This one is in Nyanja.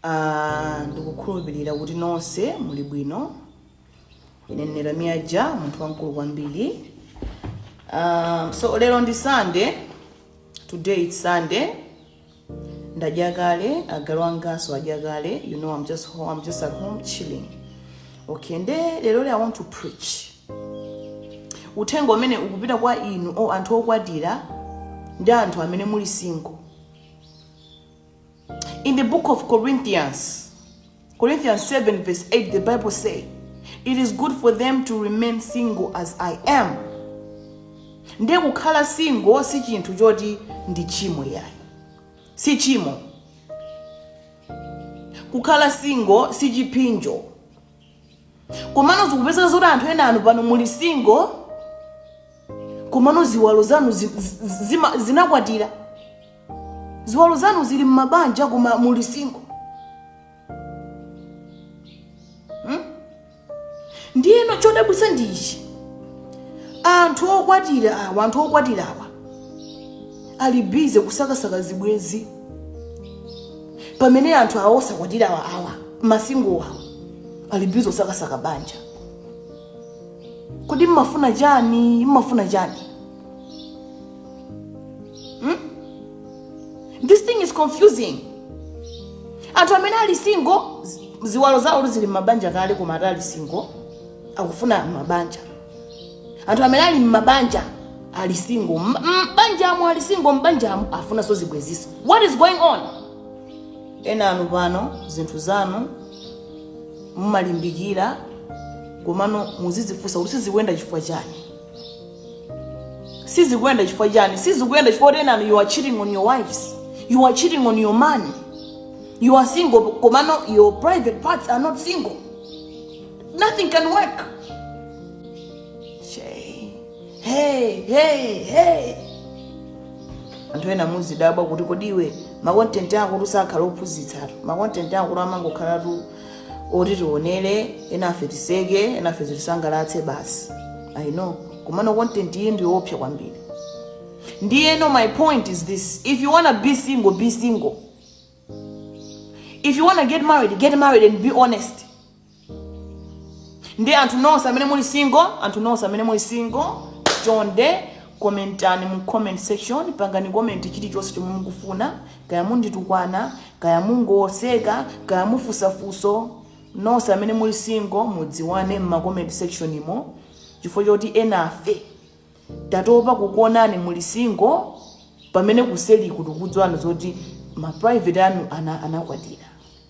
Ah, ndikukhulupirira kuti nonse muli bwino ine ndine lamia ja munthu wamkulu kwambiri so lero ndi sunday today its sunday ndadya kale agalu anganso adya kale you know i'm just home, i'm just at home chilling okay nde lero le i want to preach uthenga umene ukupita kwa inu o anthu okwatira ndi anthu amene muli single In the book of Corinthians, Corinthians 7, verse 8, the Bible says, It is good for them to remain single as I am. Nde kukhala single si chinthu choti ndi chimo yayi. Si chimo. Kukhala single si chiphinjo. komano zikupezeka zoti anthu enanu pano muli single komano ziwalo zanu zinakwatira ziwalo zanu zili mmabanja koma muli single Hmm? ndiyeno chodabwitsa ndichi anthu okwatira awa anthu okwatira awa ali bizi kusakasaka zibwenzi pamene anthu awa osakwatira awa masingo awa ali bizi kusakasaka banja kodi mmafuna chani mmafuna chani hmm? this thing is confusing anthu amene ali single ziwalo zawo zili m'mabanja kale koma ati ali single akufuna mabanja anthu amene ali m'mabanja ali single m'banjamo ali single m'banjamo afunanso zibwenzi so what is going on enanu pano zinthu zanu mumalimbikira komano muzidzifunsa kuti sizikuyenda chifukwa chani sizikuyenda chifukwa chani sizikuyenda chifukwa choti enanu you are cheating on your wives you are cheating on your man you are single komano your private parts are not single Nothing can work. Shay. Hey, hey, hey. anthu ena muzidabwa kuti kodi iwe makontenti akotu sakhala ophunzitsatu makontenti ako amangokhala tu oti tionere enafe tiseke enafe zitisangalatse basi i know komano kontenti iyi ndiyoopsa kwambiri ndiyeno my point is this if you wanna be single be single if you wanna get married get married and be honest ndi anthu nonse amene muli single anthu nonse amene muli single chonde komentani mu comment section pangani komenti chilichonse chomwe mukufuna kaya munditukwana kaya mungoseka kaya mufunsa funso nonse amene muli single mudziwane m'makomenti sectionmo chifukwa choti enafe tatopa kukuonani muli single pamene kuseli tikudziwa zoti ma private anu anakwatira